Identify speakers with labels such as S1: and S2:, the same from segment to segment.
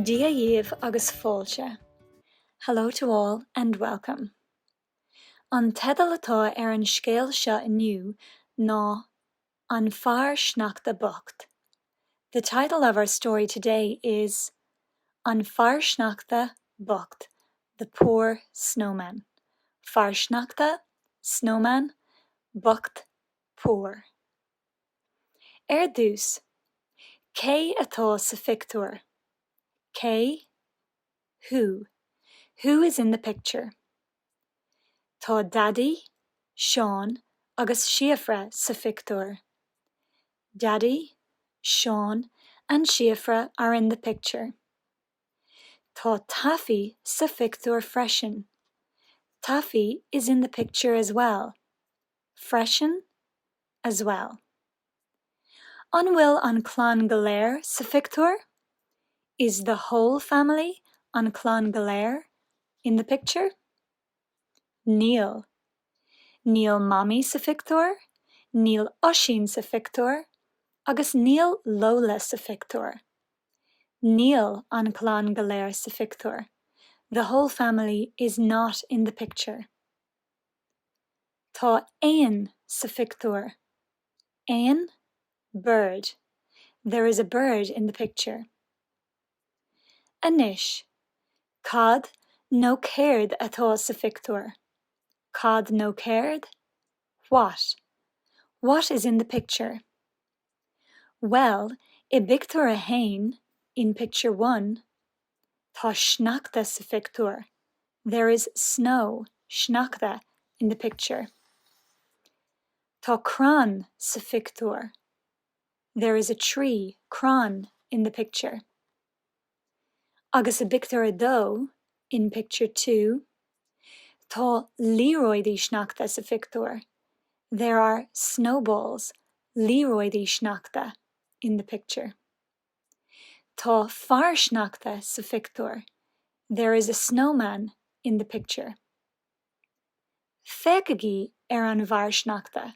S1: Dia dhaoibh agus fáilte, Hello to all and welcome. An teideal atá ar an scéal seo inniu ná An Fear Sneachta Bocht. The title of our story today is An Fear Sneachta Bocht, The Poor Snowman. Fear Sneachta, Snowman, Bocht, Poor. Ar dtús, cé atá sa phictiúr? Cé? Who? Who is in the picture? Tá Daidí, Seán agus Síofra sa phictiúr. Daddy, Seán and Síofra are in the picture. Tá Taffy sa phictiúr freisin. Taffy is in the picture as well. freisin, as well. An bhfuil an clann go léir sa phictiúr? Is the whole family an clann go léir in the picture? Níl. Níl Mamaí sa phictiúr, níl Oisín sa phictiúr agus níl Lola sa phictiúr. Níl an clann go léir sa phictiúr, The whole family is not in the picture. Tá éan sa phictiúr. Éan? Bird. There is a bird in the picture. Anois, cad nó céard atá sa phictiúr? Cad nó céard? What. What is in the picture? Well, i bpictiúr a haon, in picture one, tá sneachta sa phictiúr, there is snow, sneachta, in the picture. Tá crann sa phictiúr, there is a tree, crann, in the picture. Agus i bpictiúr a dó, in picture two, tá liathróidí sneachta sa phictiúr, there are snowballs, liathróidí sneachta, in the picture. Tá fear sneachta sa phictiúr, there is a snowman in the picture. Féachaigí ar an bhfear sneachta,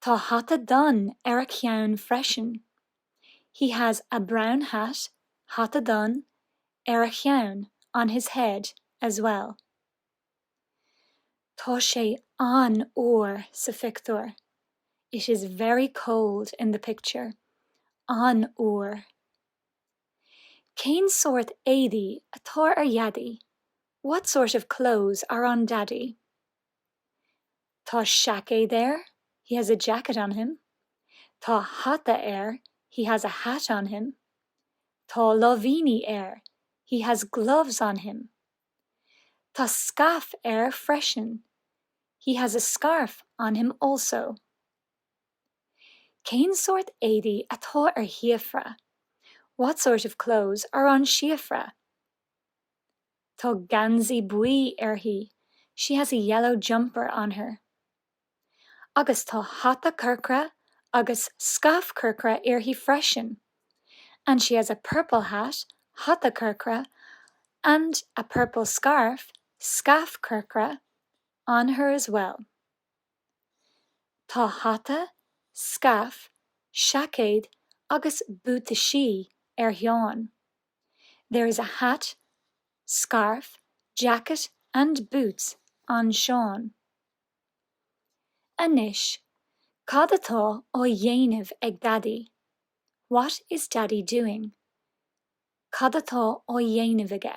S1: Tá hata donn ar a cheann freisin. He has a brown hat, hata donn, ar a cheann, on his head, as well. Tá sé an-fhuar sa phictiúr. It is very cold in the picture. an-fhuar. Cén sórt éadaí atá ar Dhaidí? What sort of clothes are on Daddy? Tá seaicéad air, he has a jacket on him. Tá hata air, he has a hat on him. Tá láimhíní air, he has gloves on him. Tá scaif air freisin, he has a scarf on him also. Cén sórt éadaí atá ar Shíofra? What sort of clothes are on Síofra? Tá geansaí buí uirthi, she has a yellow jumper on her. Agus tá hata corcra agus scaif chorcra uirthi freisin, and she has a purple hat, hata corcra, and a purple scarf, scaif chorcra, on her as well. Tá hata, scaif, seaicéad agus buataisí ar Sheán. There is a hat, scarf, jacket and boots on Seán. Anois, cad atá á dhéanamh ag Daidí? What is Daddy doing? Cad atá á dhéanamh aige?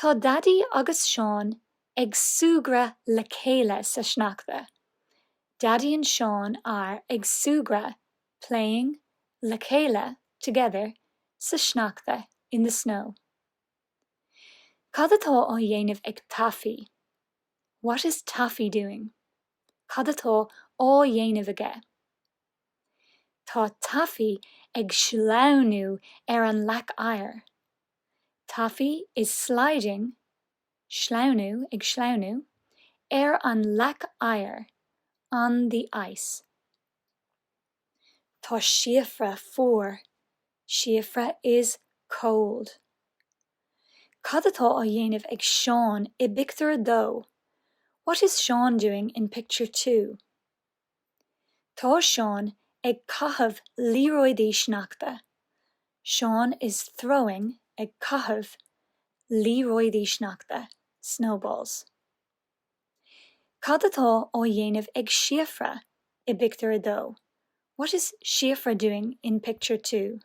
S1: Tá Daidí agus Seán ag súgradh le chéile sa sneachta, Daidí and Seán are ag súgradh, playing, le chéile, together, sa sneachta, in the snow. Cad atá á dhéanamh ag Taffy? What is Taffy doing? Cad atá á dhéanamh aige? Tá Taffy ag sleamhnú ar an leac oighir, Taffy is sliding, sleamhnú, ag sleamhnú, ar an leac oighir, on the ice. Tá Síofra fuar, Síofra is cold. Cad atá á dhéanamh ag Seán i bpictiúr a dó? What is Seán doing in picture two? Tá Seán ag caitheamh liathróidí sneachta. Seán is throwing, ag caitheamh, liathróidí sneachta, snowballs. Cad atá á dhéanamh ag Síofra i bpictiúr a dó? What is Síofra doing in picture two?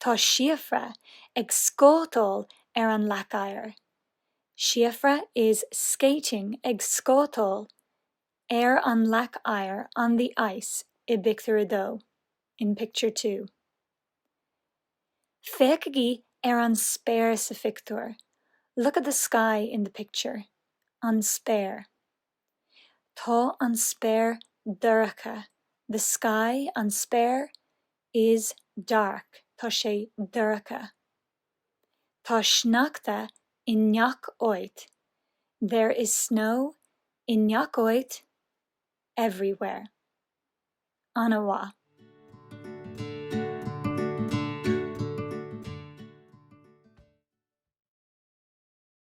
S1: Tá Síofra ag scátáil ar an leac oighir. Síofra is skating, ag scátáil, ar an leac oighir on the ice i bpictiúr a dó in picture two. Féachaigí ar an spéir sa phictiúr Look at the sky in the picture. an spéir Tá an spéir dorcha The sky, an spéir, is dark. tá sé dorcha. Tá sneachta i ngach áit, there is snow i ngach áit, everywhere. Ana mhaith.